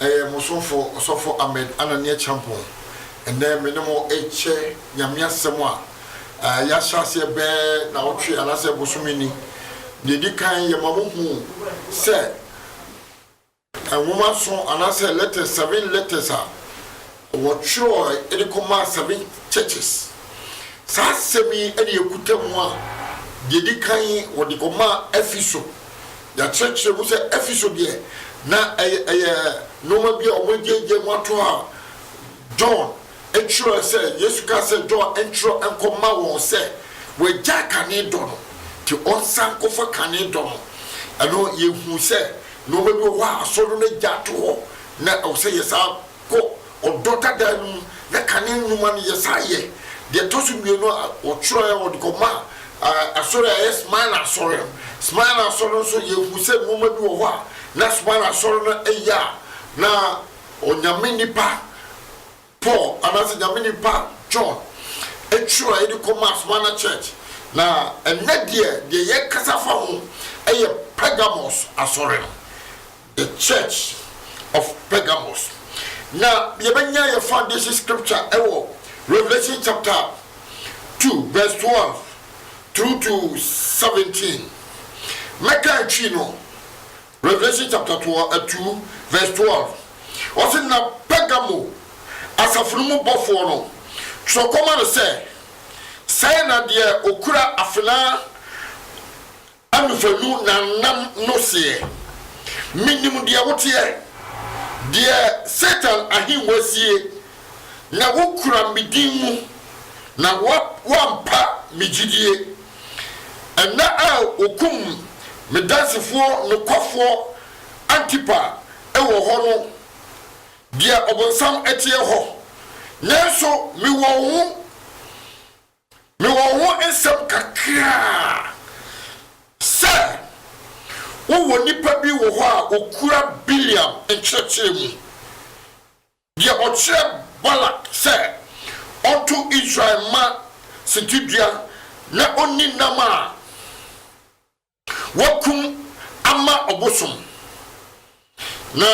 Ɛyɛ mo somfo Ɔsɔfo Ahmed Ananiah Champong. Ɛnnɛ me ne mo rekyɛ Nyame asɛm a yɛahyɛ aseɛ bɛɛ naawɔtwe anaasɛ bosome ni. Deɛ ɛdi kan yɛma mo hu sɛ Nwoma nson anaasɛ letters, seven letters a. Wɔtwerɛɛ de kɔmaa seven churches. Saa asɛm yi na yɛkuta mu a, deɛ ɛdi kan wɔde kɔmaa Efeso. Yɛakyerɛkyerɛ mu sɛ Efeso deɛ, na ɛyɛ ɛyɛ nnoɔma bi a wɔagyaagyaa mu ato hɔ a John twerɛɛ sɛ, Yesu kaa sɛ John ntwerɛ nkɔma wɔn sɛ wɔagyaa kane dɔ no, nti ɔnsan nkɔfa kane dɔ no. Ɛno yɛhunu sɛ nnoɔma bi wɔ hɔ a asɔre no agya ato hɔ, na ɛwɔ sɛ yɛ saa. Kɔ ɔdɔ dadaa no mu na kane nnwuma no yɛ. San yɛ deɛ ɛtɔ so mmienu a wɔtwerɛɛ wɔde kɔmaa Asɔre a ɛyɛ Smirna Asɔre no. Smirna Asɔre no nso, yɛhunu sɛ nnoɔma bi wɔ hɔ a na Smirna Asɔre no yɛ a na Onyame nipa Paul anaasɛ Nyame nipa John twerɛɛ de kɔmaa Smirna Church. Na ɛnnɛ deɛ, deɛ yɛkasa fa ho yɛ Pergamos Asɔre no. The Church of Pergamos. Na yɛbɛnya yɛn foundation scripture wɔ Revelation chapter two verse twelve through to seventeen. Mɛka ntwi no. Revelation chapter two eh, verse twelve. Ɔsi na Pergamo asafo no mu bɔfoɔ no twerɛ kɔma no sɛ, sɛɛ na deɛ okura afenaa Anofanu na nam no seɛ. Menim deɛ woteɛ, deɛ Satan ahennwa sie, na wokura me din mu, na woampa me gyidie. Ɛnna a wɔkum me dansefoɔ nokwafoɔ Antipa wɔ hɔ no, deɛ ɔbonsam teɛ hɔ, nanso mewɔ wo ho Mewɔ wo ho nsɛm kakra sɛ wowɔ nnipa bi wɔ hɔ a wɔkura Bileam nkyerɛkyerɛ mu, deɛ ɔkyerɛ Balak sɛ ɔnto Israel mma sintidua na ɔnni nam a Wɔakum ama ɔbosom, na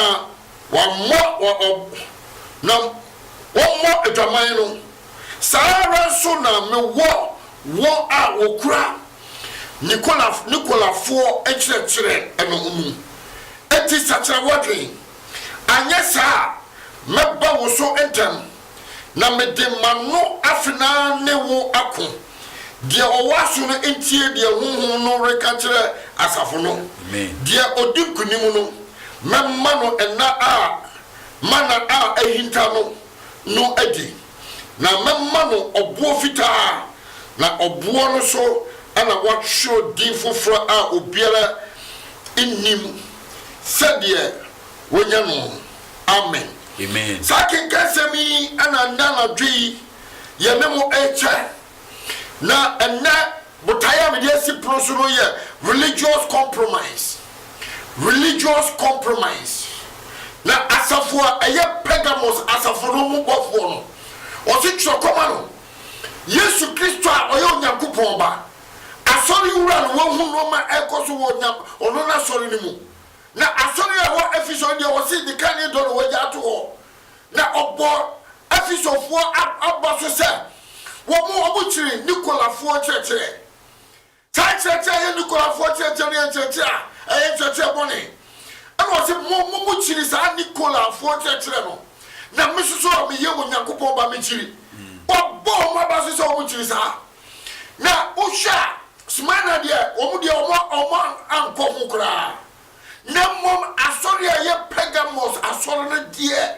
wɔammɔ wɔn ɔb, na wɔmmɔ adwaman no, saa ara nso na mewɔ wɔn a wɔkura Nikola, Nikolafoɔ nkyerɛkyerɛ no mu. Enti sakyera w'adwene, anyɛ saa a mɛba wo so ntɛm. Na mede m'ano afenaa ne wo ako. Deɛ ɔwɔ aso no ntie deɛ Honhom no reka kyerɛ asafo no. Deɛ ɔdi nkonim no, mɛma no nna a mana a ahinta no no adi, na mɛma no ɔboɔ fitaa, na ɔboɔ no so na wɔatwerɛ din foforɔ a obiara nnim sɛdeɛ wɔanya no no. Amen. Amen. Saa akenkansɛm yi na nnɛ anadwo yi yɛne mo rekyɛ. Na ɛnnɛ botaeɛ a mede asi pono so no yɛ religious compromise. Religious compromise. Na asafo a ɛyɛ Pergamos asafo no mu bɔfoɔ no, ɔse twerɛ kɔma no, Yesu Kristo a ɔyɛ Onyankopɔn ba, asɔre wura no, wahu nneɛma ɛrekɔ so wɔ ɔno n'asɔre no mu, Na asɔre a ɛwɔ Efeso no deɛ, wɔse de kan ne dɔ na wɔagya ato hɔ, na ɔbɔɔ Efesofoɔ aba so sɛ wɔn wɔkyiri Nikolafoɔ nkyerɛkyerɛ. Saa nkyerɛkyerɛ a ɛyɛ Nikolafoɔ nkyerɛkyerɛ no yɛ nkyerɛkyerɛ a ɛyɛ nkyerɛkyerɛ bɔne. Ɛna ɔse mo mo mokyiri saa Nikolafoɔ nkyerɛkyerɛ no, na me nso so a meyɛ Onyankopɔn ba mekyiri. Wɔabɔ wɔn aba so sɛ wɔkyiri saa. Na wohwɛ a, Smyrna deɛ, wɔn deɛ wɔn wɔn ankɔ ho koraa. Na mmom asɔre a ɛyɛ Pergamos asɔre no deɛ,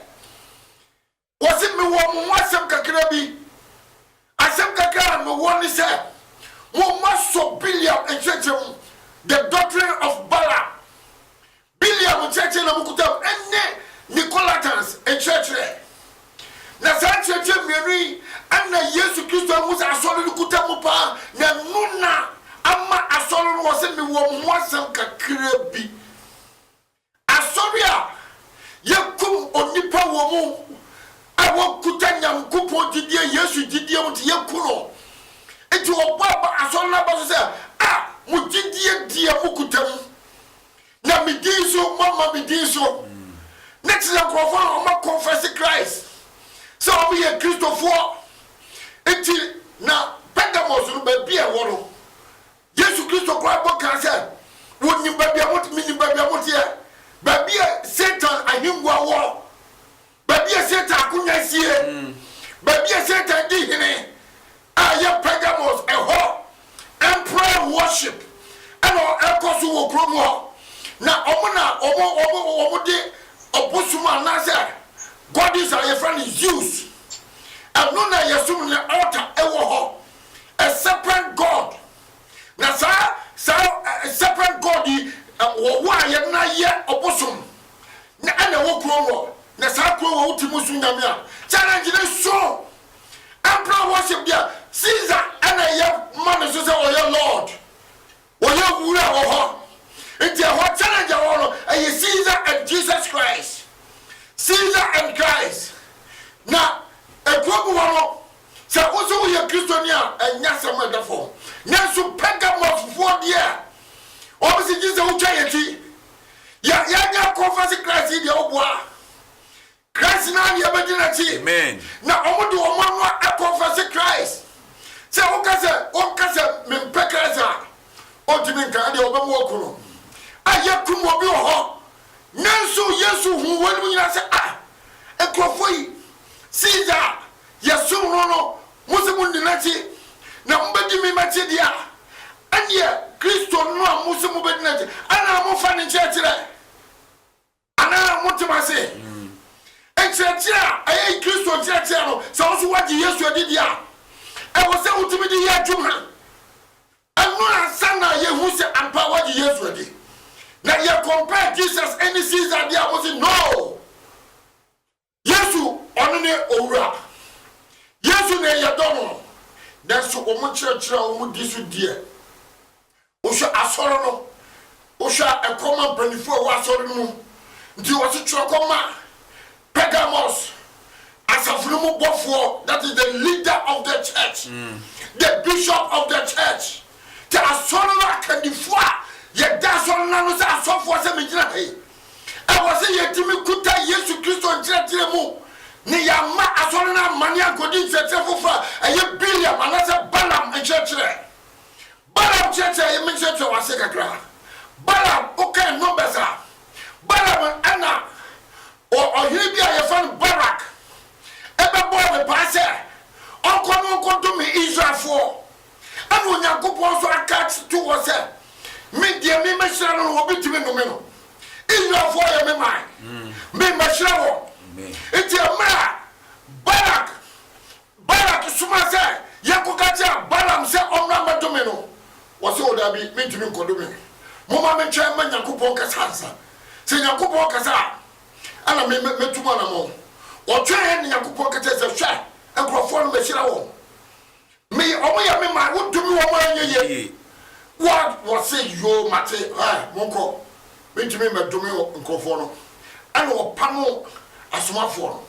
wɔsi mewɔ mo ho asɛm kakra bi. Asɛm kakra a mewɔ ne sɛ, mo mma sɔ Biliam nkyerɛkyerɛ mu, the doctrine of Balaam. Biblia mu nkyerɛkyerɛ na mukuta mu ne Nicolaitans nkyerɛkyerɛ. Na saa nkyerɛkyerɛ mmienu yi na Yesu Kristo ahu sɛ asɔre no kuta mu paa, na ɛno na ama asɔre no wɔ sɛ mewɔ mo ho asɛm kakra bi. Asɔre a yɛkum onipa wɔ mu a wɔkuta Nyankopɔn gyidie, Yesu gyidie mu nti yɛku no. Nti wɔbɔ aba asɔre no aba so sɛ, a mo gyidie deɛ mokuta mu. na me din so moama me din so na kyerɛ nkurɔfoɔ a wɔn akɔnfɛse Christ sɛ wɔn yɛ Kristofoɔ nti na Pergamos no baabi a ɛwɔ no Yesu Kristo koraa bɔ kaa sɛ wɔnim baabi a mote menim baabi a moteɛ baabi a Satan ahengua wɔ Baabi a Satan akonwa sie, baabi a Satan di hene a ɛyɛ Pergamos, ɛhɔ emperor worship na ɛkɔ so wɔ kurom hɔ, na wɔn na wɔde ɔbosom anaasɛ goddess a yɛfrɛ no Zeus, ɛno na yɛsom ne altar wɔ hɔ, a serpent god. Na saa, saa serpent god yi wɔwɔ a yɛde no ayɛ ɔbosom na ɛna ɛwɔ kurom hɔ na saa kurom hɔ wote mu so nyame a challenge ne so emperor worship deɛ Caesar ɛna ɛyɛ ma ne so sɛ ɔyɛ lord ɔyɛ wura wɔ hɔ nti ɛhɔ challenge ɛwɔ no ɛyɛ Caesar and Jesus Christ Caesar and Christ na ɛkurom hɔ no Sɛ wo nso woyɛ Kristoni a, ɛnyɛ asɛm a ɛda fam. Nanso Pergamofofoɔ deɛ, wɔn se gye sɛ wotwa yɛn ti. Yɛ, yɛnyɛ kɔnfɛse Christ yi deɛ, wo boa. Christ no ara na yɛbɛdi n'akyi. Amen. Na wɔn de wɔn ano akɔnfɛse Christ. Sɛ woka sɛ, wonka sɛ mempɛ Christ a, ɔntumi nka, ɛdeɛ wɔbɛma wɔaku no. A yɛakum obi wɔ hɔ. Nanso Yesu huu wɔnom nyinaa sɛ, Ah, nkurɔfoɔ yi, Caesar Yɛsom no no, mo se monni n'akyi, na mobɛdi me m'akyi deɛ a, ɛnneɛ Kristo no a mo se mobɛdi n'akyi, anaa mofa ne nkyerɛkyerɛ? Anaa mote mo ase? Nkyerɛkyerɛ a ɛyɛ Kristo nkyerɛkyerɛ no, sɛ wo nso woagye Yesu adi deɛ a, ɛwɔ sɛ wotumi de yɛ adwuma. Ɛno ansa na yɛhu sɛ ampa woagye Yesu adi. Na yɛ compare Jesus ne Caesar deɛ a, mo se no. Yesu, ɔno ne Owura. Yesu na yɛdɔ no, nanso wɔn nkyerɛkyerɛ a wɔn di so deɛ, wohwɛ asɔre no, wohwɛ a ɛkɔ ma mpanyinfoɔ a ɛwɔ asɔre no mu, nti wɔsi twerɛ kɔ ma Pergamos asafo no mu bɔfoɔ, that is the leader of the church, mm. the bishop of the church, te asɔre no akandifoɔ a yɛda asɔre no ano sɛ asɔfoɔ sɛ megyina ha yi. Ɛwɔ sɛ yɛtumi kuta Yesu Kristo nkyerɛkyerɛ mu na yɛamma asɔre no ammane ankɔdi nkyerɛkyerɛ foforɔ a ɛyɛ Bileam anaasɛ Balaam nkyerɛkyerɛ. Balaam kyerɛkyerɛ a yɛbɛkyerɛkyerɛ wɔ ase kakra. Balaam, wokan Numbers a, Balaam na ɔ, ɔhene bi a yɛfrɛ no Barak bɛbɔɔ no paa sɛ ɔnkɔ na ɔnkɔdome Israelfoɔ. Ɛna Onyankopɔn nso aka ato hɔ sɛ, Me deɛ memɛhyira no no, obi tumi nnome no. Israelfoɔ yɛ me man, mm. memɛhyira wɔn. Nti mmerɛ a Balak Balak soma sɛ yɛnkɔka kyerɛ Balaam sɛ ɔmmra mmɛdome no, wɔsɛ o daabi, mentumi nkɔdome. Momma mentwɛn ma Nyankopɔn kasa ansa. Sɛ Nyankopɔn kasa a, ɛna mɛtu mu anammɔn. Ɔtwɛn na Nyankopɔn ka kyerɛ sɛ, Hwɛ, nkurɔfoɔ no mɛhyira wɔn. Me wɔn yɛ me man wodome wɔn anyɛ yie what wɔse yoo mate hɛɛ monkɔ mentumi mmɛdome nkurɔfoɔ no ɛna wɔpamoo asomafoɔ no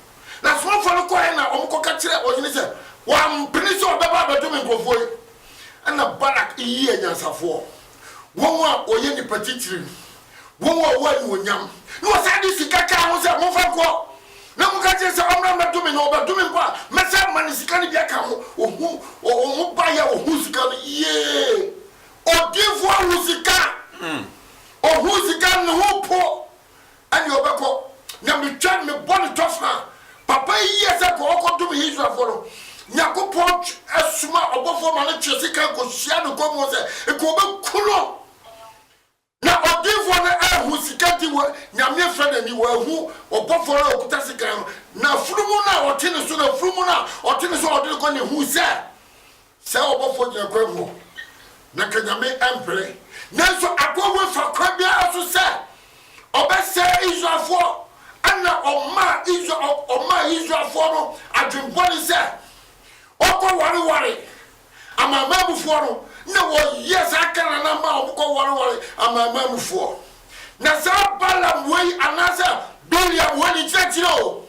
na asomafoɔ no kɔɛ na wɔn kɔka kyerɛ ɔhene sɛ wampene sɛ ɔbɛba abɛdome nkurɔfoɔ yi ɛna Balak yii anyansafoɔ wɔn a wɔyɛ nnipa titiri Wɔn a wɔwɔ anuonyam. Na wɔsan de sika kaa ho sɛ, Momfa nkɔ. Na moka kyerɛ sɛ, Ɔmmra mmɛdome, na ɔbɛdome mpo a, mɛsan ama no sika no bi aka ho. Ohuu wɔn, wɔbaeɛ a wɔhuu sika no, yee! Odiyifoɔ ahu sika! Ɔhuu sika no, ne ho repo. Ɛnneɛ ɔbɛkɔ. Na metwa no, mebɔ no tɔfena a, papa yi yɛɛ sɛ kɔ, ɔkɔdome Israelfoɔ no. Nyankopɔn soma ɔbɔfoɔ ma no twe sika kɔhyia no nkɔm hɔ sɛ, nka ɔbɛku no. Na ɔdinfoɔ no anhu sika nti wɔ Nyame afira no ani, wanhu ɔbɔfoɔ no a ɔkuta sekan no, na afunumu no a ɔte ne so no, afunumu no a ɔte ne so a ɔde no kɔ no, huu sɛ saa ɔbɔfoɔ gyina kwan mu hɔ, na anka Nyame ampere, nanso akoa wei fa kwan biara so sɛ ɔbɛsɛe Israelfoɔ, ɛna ɔmaa Israel, ɔmaa Israelfoɔ no adwen bɔne sɛ wɔkɔ ware ware. Amanamanmufoɔ no na wɔyɛ saa Kanaanfoɔ mmaa a wɔkɔwareware amanamanmufoɔ. Na saa Balaam wei anaasɛ Bileam wei ne kyerɛkyerɛ o,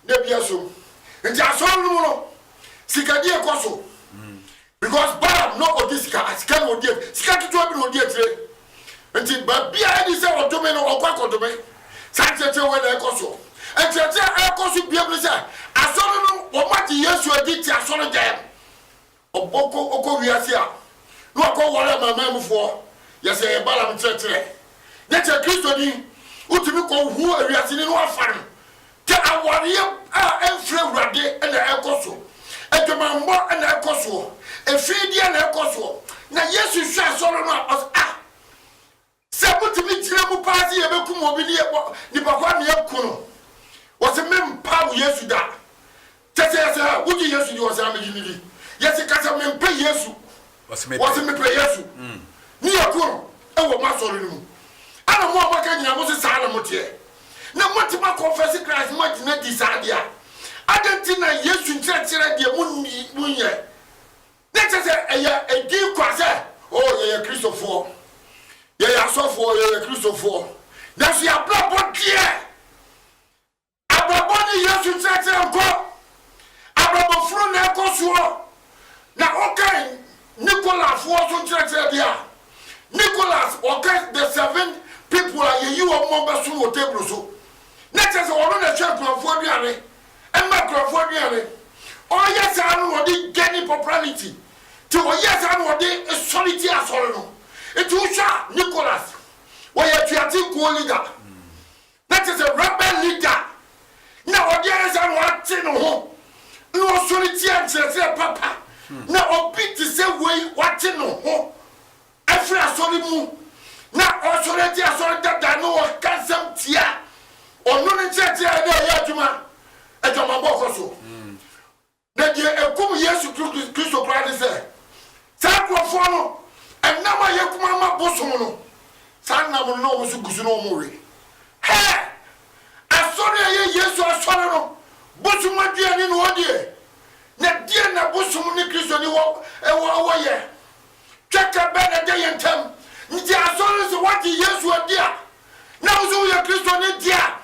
na bi asom. Nti asɔre no mu no, sikadie rekɔ so. Because Balaam na ɔdi sika, sika na ɔdi akyire, sika ketewa bi na ɔdi akyire. Nti baabi a ɛdi sɛ ɔdome no, ɔkɔ akɔdome. Saa nkyerɛkyerɛ wei na ɛrekɔ so. Nkyerɛkyerɛ a ɛrekɔ so biam ne sɛ, asɔre no wɔagye Yesu adi te asɔredan mu. Ɔbɔ kɔ ɔkɔ wiase a na wakɔ ware amanaman mu foɔ yɛ sɛ ɛyɛ Balaam kyerɛkyerɛ nyɛ kyɛ Kristo ni wo tumi kɔ hu awiase ni no afa no kyɛ awareɛ a ɛnfiri awurade na ɛkɔ so adwamammɔ na ɛkɔ soɔ ɛfiideɛ na ɛkɔ soɔ na Yesu hwɛ asɔre no a ɔs ah Sɛ motumi gyina mu paa se yɛbɛkum obi ne yɛbɔ nipa ko a nea aku no wɔse mempa wo Yesu da kyɛsɛ yɛse ha wogye Yesu di wɔse haa megye no di yɛse kasɛ mempɛ Yesu wɔse mepɛ Yesu ne yɛku no wɔ mo asɔre no mu ɛna mo a moaka nyina mose saa na moteɛ na moatumi akɔnfɛse Christ moagyina di saa deɛ a adɛn nti na Yesu nkyerɛkyerɛ deɛ monyɛ Na kyerɛ sɛ ɛyɛ din kwa sɛ, O, yɛyɛ Kristofoɔ, yɛyɛ asɔfoɔ, yɛyɛ Kristofoɔ, nanso yɛn abrabɔ deɛ, abrabɔ ne Yesu nkyerɛkyerɛ nkɔ. Abrabɔ funu na ɛkɔ soɔ. Na wokan Nikolafoɔ so nkyerɛkyerɛ deɛ a, Nicholas, ɔka the seven people a yɛyi wɔn ma wɔbɛsom wɔ table so. Na kyerɛ sɛ ɔno na ɛhwɛ nkurɔfoɔ aduane. ma nkurɔfoɔ aduane. Ɔyɛ saa no na ɔde gaini popularity. Nti ɔyɛ saa na ɔde sɔre tia asɔre no. Nti wohwɛ a Nicholas ɔyɛ atuatenkuo leader. Na kyerɛ sɛ rebel leader. Na ɔde ayɛ saa na wate ne ho na ɔsɔre tia nkyerɛkyerɛ papa. Na obi te sɛ wei wate ne ho. Afiri asɔre mu na ɔresɔre agye asɔre dada no ɔka nsɛm tia ɔno ne nkyerɛkyerɛ a ɛna ɛyɛ adwuma adwamabɔ kɔ so na deɛ ɛkum Yesu Kristo koraa ne sɛ saa nkurɔfoɔ no ɛnam a yɛ kuma ma bosom no saa nnam no na wɔn so gu so na wɔn we hɛ asɔre a ɛyɛ Yesu asɔre no bosom aduane na ɔdie na deɛ na bosom ne Kristo ne wɔ ɛwɔ ɛwɔ yɛ Twaka bɛn na ɛda yɛn ntam? Gye asɔre no sɛ woagye Yesu adi a, na wo nso woyɛ Kristoni de a,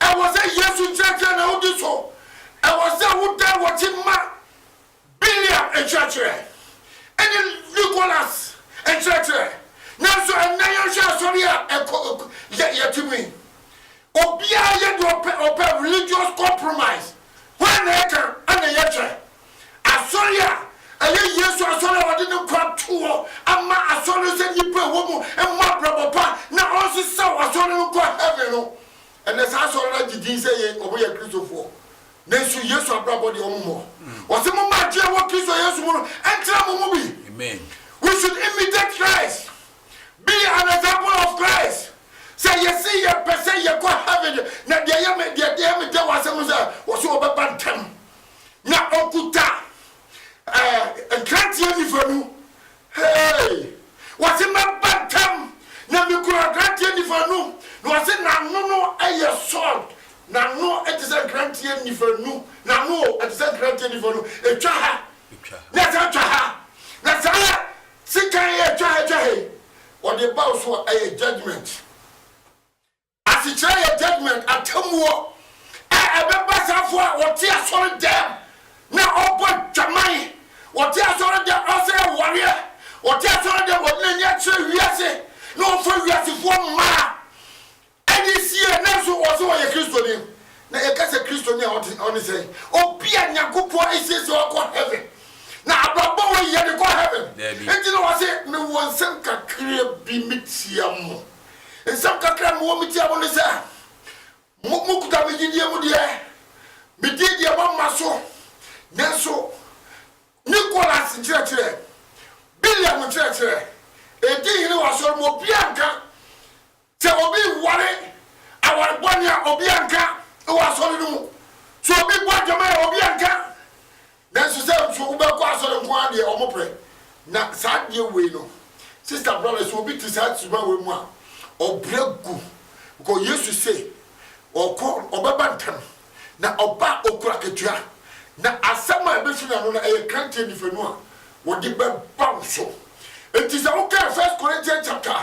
ɛwɔ sɛ Yesu nkyerɛkyerɛ na wodi so. Ɛwɔ sɛ wodan w'akyi ma Biliam nkyerɛkyerɛ ne Nicholas nkyerɛkyerɛ. Nanso ɛnnɛ yɛnhwɛ asɔre a ɛkɔ yɛ yɛte mu yi, obiara yɛ deɛ ɔpɛ, ɔpɛ religious compromise. Hwan na ɛka? Ɛna yɛkyɛ Asɔre a ɛyɛ Yesu Asɔre a ɔde ne nkwa too hɔ ma Asɔre no sɛ nnipa a ɛwɔ mu mmɔ abrabɔ pa na ɔnsesaw Asɔre no nkɔ heaven no, ɛnnɛ saa Asɔre no agye din sɛ ɛyɛ wɔyɛ Kristofoɔ. Nanso Yesu abrabɔ deɛ wɔmmɔ. Ɔse momma agye a ɛwɔ Kristo Yesu mu no ntra mo mu bi. We should imitate Christ, be an example of Christ. Sɛ yɛse yɛpɛ sɛ yɛkɔ heaven deɛ, na deɛ ɛyɛ me deɛ ɛyɛ me dɛ wɔ asɛm no sɛ wɔse wɔbɛba ntɛm na ɔkuta ɛɛ nkrateɛ nifa nu hee wɔse mɛba ntɛm na mekura nkrateɛ nifa nu na wɔse n'ano no yɛ sɔɔd n'ano te sɛ nkrateɛ nifa nu n'ano te sɛ nkrateɛ nifa nu ɛtwa ha na ɛsɛ atwa ha na saa sekan yɛ ɛtwa ha ɛtwa ha yi wɔde ba wo so a ɛyɛ judgement Asekyerɛ yɛ judgement, atemmuo, a ɛbɛba safoɔ a ɔte asɔre dɛm na ɔbɔ dwaman, ɔte asɔre dɛm ɔsɛe awareɛ, ɔte asɔre dɛm ɔde n'ani akyerɛ wiase na ɔfa wiasefoɔ mmaa ɛde sie nanso ɔse ɔyɛ Kristoni. Na yɛka sɛ Kristoni a ɔte ɔne sɛn? Obi a Nyankopɔn asiesie wakɔ heaven na abrabɔ wei yɛde kɔ heaven. Daabi. Enti na ɔse mewɔ nsɛm kakra bi metia mo. Nsɛm kakra a mewɔ metia mo ne sɛ, mo mokuta me gyidie mu deɛ, medii deɛ moamma so. Nanso Nicholas nkyerɛkyerɛ, Biliam nkyerɛkyerɛ, ɛdi hene wɔ asɔre mu. Obiara nka sɛ obi reware aware bɔne a, obiara nka wɔ asɔre no mu. Sɛ obi bɔ adwaman a, obiara nka. Nanso sɛ nso wobɛkɔ asɔre nko ara deɛ wɔn prɛ na saa adeɛ wei no sister brother sɛ obi te saa suban wei mu a ɔbrɛ gu because yesu se ɔkɔ ɔbɛba ntɛm na ɔba a ɔkura akatua na asɛm a ɛbɛfiri n'ano no ɛyɛ kranteɛ nifanu a wɔde bɛba wo so enti sɛ wokan first corinthian chapter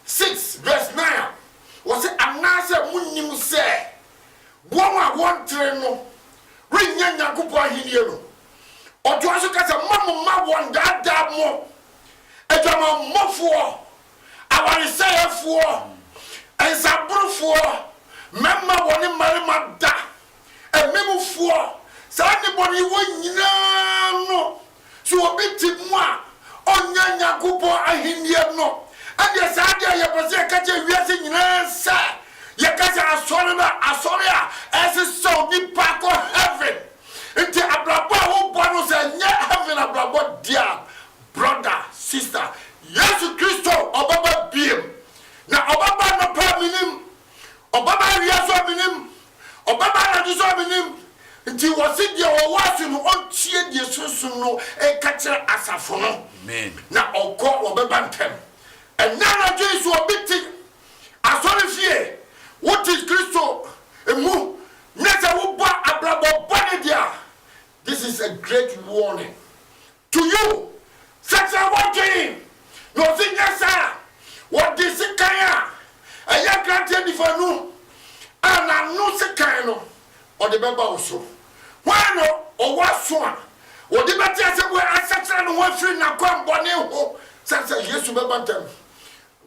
six verse nine a wɔse anaasɛ monnim sɛ wɔn a wɔntere no rennya Nyankopɔn ahenni no, ɔtoa so ka sɛ, Mma mo mma wɔnnaadaa mo. Adwamammɔfoɔ, awaresɛefoɔ, nsaborofoɔ, mmarima wɔne mmarima da, amemmufoɔ, saa nnebɔneyɛfoɔ nyinaa no Sɛ obi te mu a, ɔnnya Nyankopɔn Ahenni no. Ɛndeɛ saa adeɛ a yɛpɛ sɛ yɛka kyerɛ wiase nyinaa ne sɛ, yɛka sɛ asɔre no a, asɔre a ɛsesa onipa kɔ heaven. Nti abrabɔ a wobɔ no, sɛ ɛnyɛ heaven abrabɔ deɛ a, brɔda, sista, Yesu Kristo ɔbɛba biom. Na ɔbɛba anɔpa a, mennim. Ɔbɛba awia so a mennim, ɔbɛba anadwo so a mennim. Nti wɔse deɛ ɔwɔ aso no ɔntie deɛ Sunsum no reka kyerɛ asafo no, na ɔnkɔ a wɔbɛba ntɛm. Ɛnnɛ anadwo yi so obi te asɔrefie, wote Kristo mu, na sɛ wobɔ abrabɔ bɔne deɛ a, this is a great warning. To you, Sɛsɛ wɔdwen na ɔse nyɛ saa a wɔde sekan a ɛyɛ nkranteɛ nifa nu a n'ano sekan no ɔde bɛba wo so. Hwan na ɔwɔ aso a ɔde bɛte asɛm wei asakyera ne ho afiri n'akwammɔne ho sɛsɛ Yesu bɛba ntɛm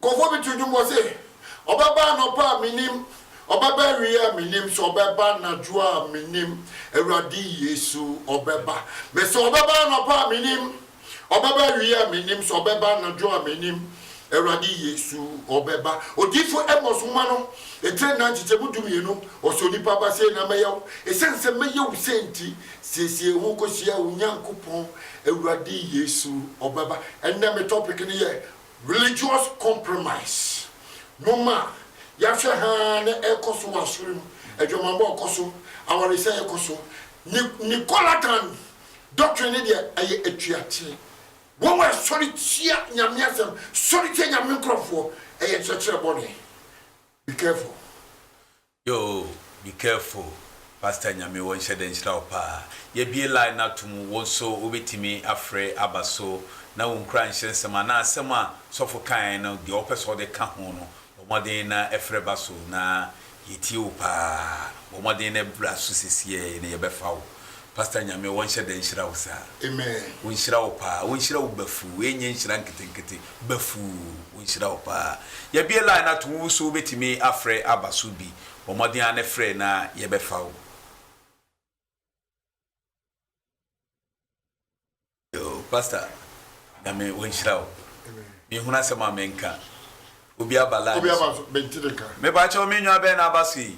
Nkurɔfoɔ bi to dwom wɔ se, Ɔbɛba anɔpa a mennim, Ɔbɛba awieɛ a mennim, Sɛ Ɔbɛba anadwo a mennim, Awurade Yesu Ɔbɛba. Mese Ɔbɛba anɔpa a mennim, Ɔbɛba awieɛ a mennim, Sɛ Ɔbɛba anadwo a mennim, Awurade Yesu Ɔbɛba. Odiyifoɔ Amos nwoma no etire nnan nkyekyɛmu dumienu, ɔse, Onipa ba sei na mɛyɛ wo, esiane sɛ mɛyɛ wo sei nti, siesie ho kɔhyia wo Nyankopɔn, Awurade Yesu Ɔbɛba. Ɛnnɛ me topic no yɛ Religious compromise no ma yɛahwɛ haa na ɛrekɔ so wɔ asɔre mu, adwamammɔ rekɔ so, awaresɛe rekɔ so. Ni Nicolaitan doctrine no deɛ, ɛyɛ atuateɛ. Wɔn wɔ sɔre tia Nyame asɛm, sɔre tia Nyame nkorɔfoɔ, ɛyɛ nkyerɛkyerɛ bɔne. Be careful. Yoo be careful pastor nyame wɔ nhyɛ dɛ nhyira wo paa yɛbie line no ato mu wo nso wo bɛtumi afrɛ aba so na wo nkura nhyɛ nsɛm anaa asɛm a sɔfo kaeɛ no deɛ wo pɛ sɛ wo de ka ho no bɔ mmɔden na ɛfrɛ ba so na yɛ tie wo paa bɔ mmɔden na bra so sesiɛ na yɛ bɛ fa wo pastor nyame wɔ nhyɛ dɛ nhyira wo saa. Amen. Wonhyira wo paa, wonhyira wo bafuu, wei nyɛ nhyira nketenkete, bɛfuu nhyira wo paa yɛbie line no atom woso wobɛtumi afrɛ aba so bi bɔ mmɔden ara ne frɛ na yɛbɛfa wo. Yoo pastor nyame wɔnhyira wo mehunu asɛm a menka obi aba line Obi aba so bɛnti ne ka. mepa kyɛw me nwa bɛn na aba so yi.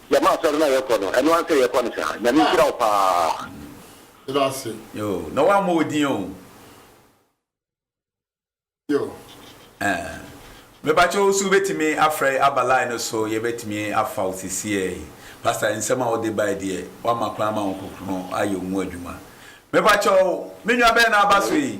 Gyama asɔre no a yɛkɔ no ɛno ara sɛ yɛkɔ no saa Nyame nhyira wo paa. Yɛda ase. Yoo na wammɔ wo din o. Yoo. Ɛɛ mepakyɛ wo so wobɛtumi afrɛ aba line no so yɛbɛtumi afa wo sisiɛɛ Pastor nsɛm a wode bae deɛ wama kwan ama Honhokrono ayɛ wo mu adwuma mepakyɛ wo me nua bɛn na aba so yi.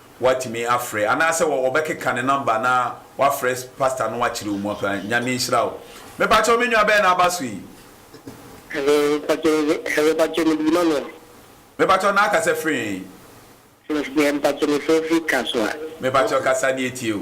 Watumi afrɛ anaasɛ wɔ wɔbɛkeka ne number na wafrɛ pastor no akyerɛ wo mu apa Nyame nhyira wo Mepakyɛw me nua bɛn na aba so yi? Hello mpakyɛw mede hello mpakyɛw mede dwuma no. Mepakyɛw na akasa firi hen? Mef deɛ mpakyɛw mefrɛ firi kasoa. Mepakyɛw kasa ne yɛtie o.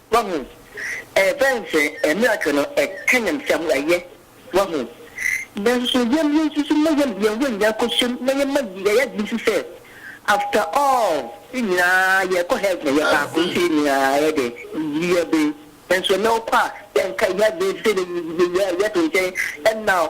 Wahu? Ɛbɛyɛ ne sɛ miracle no ɛka yɛn sɛ wɔayɛ. Wahu? Nanso yɛn yɛn nso so na yɛn yɛn ho nyinaa kɔhyem na yɛma yɛyɛ adwene nso sɛ after all yɛn nyinaa yɛrekɔ heaven yɛyɛ baako nti yɛn nyinaa yɛ dɛ yɛ be nanso ɛnɛ wokɔ a yɛnka yɛn adwene sɛ yɛyɛ yɛto nkyɛn ɛnna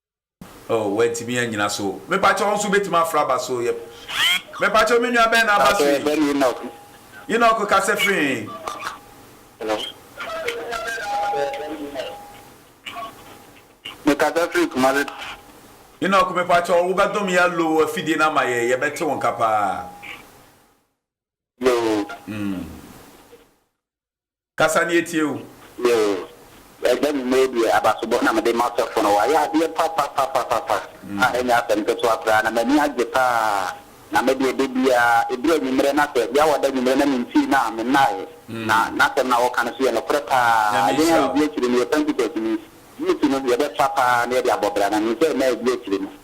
Oh wantumi anyina so. Mepakyɛ wo nso wobɛtumi afra aba so yep Mepakyɛ me nua bɛn na aba so yi? Enoch kasa firi he? Mekasa firi Kumasi. Enoch mepakyɛ wo wobɛdom yɛ lo afidie no ama yɛ yɛbɛte wo nka paa. Yoo. Mm. Kasa na yɛtie wo. Yoo ɛbɛ me mɛɛ deɛ abasobɔ na mede ma sɔfo no wayɛ adeɛ papapapapa a ɛnyɛ asɛm ketewa koraa na m'ani agye paa na medeɛ dabiaa ɛduru anwummerɛ na sɛ bia wada anwummerɛ na mentii no a mennaeɛ na n'asɛm no a wɔka no so yɛ nokorɛ paa yɛn a yɛdi akyire no yɛ Pentecost ni Youth no yɛbɛfa paa na yɛde abɔ bra na menim sɛ ɛnna ɛdi akyire no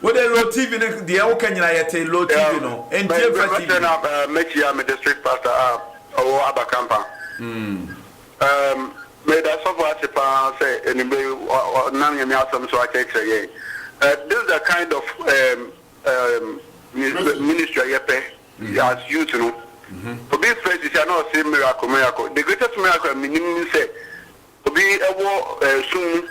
Wo de low TV no deɛ woka nyina yɛte low TV no ntie fa TV. Mɛsɛ na mɛkyia me district pastor a ɔwɔ Abakampa. Meda sɔfo ase paa sɛ anwummerɛ yi ɔnam Nyame asɛm so akyerɛkyerɛ yɛn. This is the kind of ministry a yɛpɛ as youth no. Obi frɛ sisi a na ɔse miracle miracle. The greatest miracle a menim ne sɛ Obi wɔ sum mu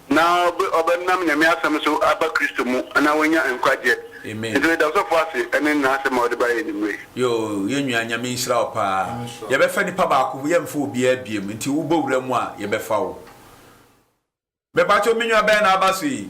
na ɔbɛnam Nyame asɛm so aba Kristo mu na w'anya nkwagyeɛ. Nti yɛda ɔsɔfoɔ ase ɛne n'asɛm a ɔde baeɛ anwummerɛ yi. Yoo yɛn nua Nyame nhyira wo paa yɛbɛfa nipa baako ho yɛnfa obiara biom nti wo bɔ wura mu a yɛbɛfa wo mepakyɛw me nua bɛn na aba so yi?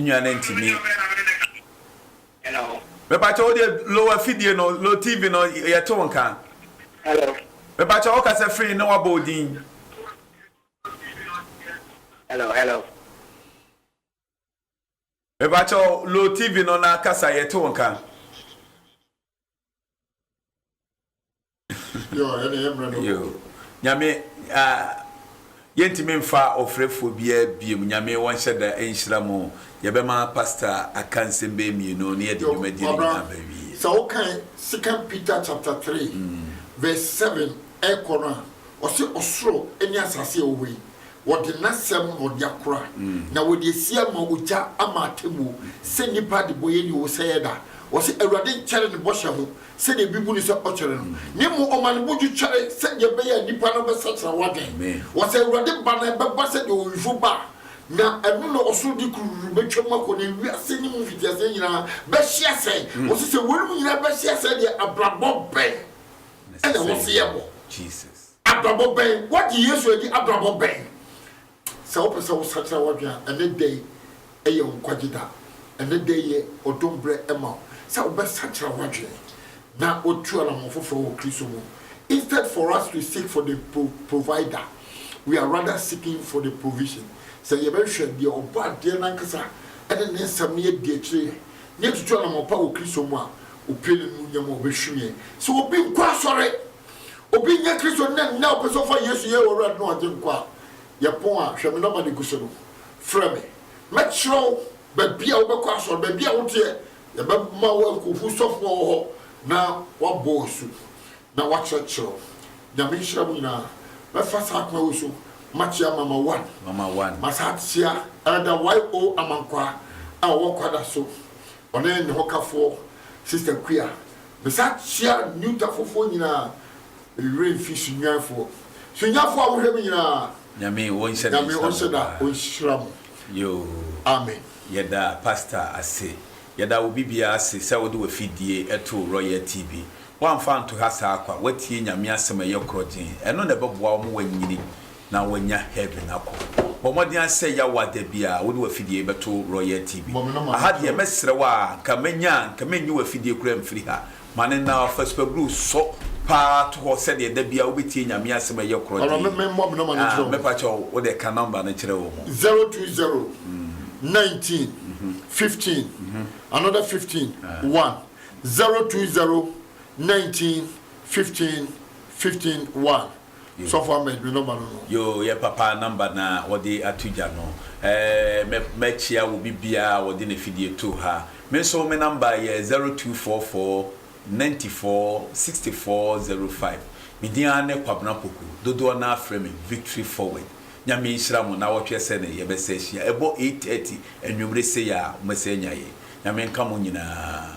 nua no ntumi mepakyɛ wo deɛ lo afidie no lo tv no yɛte wo nka mepakyɛ wo kasa firi ne wabɔ wo din mepakyɛ lo tv no na kasa yɛte wo nka Yoo Nyame ah Yɛntumi mfa ɔfrɛfoɔ biaa biom Nyame wɔnhyɛ da nhyira mo Yɛbɛma pastor aka nsɛm bɛyɛ mmienu na yɛde dwumadie no nyinaa bɛwie. Sɛ wo kan second Peter chapter three verse seven ɛkɔ no a ɔse ɔsoro ne asase a ɛwɔ hɔ yi Wɔde N'asɛm na ɔde akora, na wɔde asi ama ogya ama atemmuo, sɛ nnipa adebɔyɛ nni hɔ sɛ ɛyɛ da. Wɔse, Awurade nkyɛre ne bɔhyɛ ho, sɛdeɛ ebi bu no sɛ ɔkyɛre no, na mmom ɔma ne bo dwo kyɛre, sɛdeɛ ɛbɛyɛ a nnipa no bɛsakyera w'adwen. Wɔse, Awurade ba no, ɛbɛba sɛdeɛ owifo ba, na ɛno na ɔsoro de kurururu bɛtwam akɔ, na wiase no mu mfitiaseɛ nyinaa bɛhye asɛe. Wɔse, Sɛ weinom nyinaa bɛhye asɛe deɛ, abrabɔ bɛn na ɛwɔ sɛ yɛbɔ? Abrabɔ bɛn? Woagye Yesu adi? Abrabɔ bɛn? Sɛ wopɛ sɛ wosakyera w'adwene a, ɛne dɛ yi yɛ wo nkwagye da. Ɛne dɛ yi yɛ ɔdom berɛ ma wo sɛ wobɛsakyera w'adwene na woatu anamɔn foforɔ wɔ Kristo mu. Instead for us to seek for the pro, provider, we are rather seeking for the provision. Sɛ yɛbɛhwehwɛ deɛ ɔbɔ adeɛ no ankasa ne Ne nsɛm na yɛadi akyire yɛn, na yɛatutu anamɔn pa wɔ Kristo mu a, opue n'animuonyam a ɔbɛhwim yɛn sɛ obi nkɔ asɔre. Obi nyɛ Kristoni na nnɛ ɔpɛ sɛ ɔfa Yesu yɛ Ɔwura ne Ɔgyenkwa a, yɛ pon a, hwɛ me nɔma no gu so no, frɛ me. Mɛkyerɛ wo baabi a wobɛkɔ asɔre, baabi a woteɛ, yɛbɛma wo akohu sɔfo a ɔwɔ hɔ na wabɔ wo asu na wakyerɛkyerɛ wo. Nyame nhyira mo nyinaa. Mɛfa saa kwan wei so makyea Mama One. Mama One. Masan akyea Elder YO. Amankwah a ɔwɔ Kwadaso. Ɔne ne hɔkafoɔ Sister Kua. Mesan hyia New Tafofoɔ nyinaa. Me werɛ mfi Sunyanifoɔ. Sunyanifoɔ a mohwɛ me nyinaa. Nyame ɔnhyɛ da Nyame ɔnhyɛ da ɔnhyira mo. Yoo. Amen. Yɛda Pastor ase. Yɛda wo bibia ase sɛ wode wafidie too Royal TV. Woamfa anto ha saa kwa. Woatie Nyame asɛm ɛyɛ korɔgyeen. Ɛno na ɛbɛboa wo ma woanyini. na wanya heaven akɔ. Bɔ mmɔden ara sɛ yaw a da biara wode w'afidie yi bɛto Royal TV. Aha deɛ mɛsrɛ wo a, nka mɛnya a, nka mennyi w'afidie koraa mfiri ha. Ma no na fa supablu sɔ pa ara to hɔ sɛdeɛ da biara wobɛtie Nyame asɛm a ɛyɛ korɔ dee. Ah, me pa kyɛw, wo deɛ ka number no kyerɛ wɔn. Zero two zero, nineteen, fifteen, another fifteen, one, zero two zero, nineteen, fifteen, fifteen, one. Sɔfo ama edwuma nɔmba no no. Yoo yɛ papa nɔmba na wɔde ato gya no ɛɛ mɛ kyia obi bia a wɔde ne fidie too ha me nso me nɔmba yɛ zero two four four ninety four sixty four zero five me din ara ne Kwabena Poku dodoɔ naa frɛ me Victory Forward Nyame nhyira mo na wɔtwɛ sɛ ne yɛ bɛ sɛ hyia ɛbɔ eight thirty anwumere sei a wɔbɛ sɛ anya yɛ Nyame nka mo nyinaa.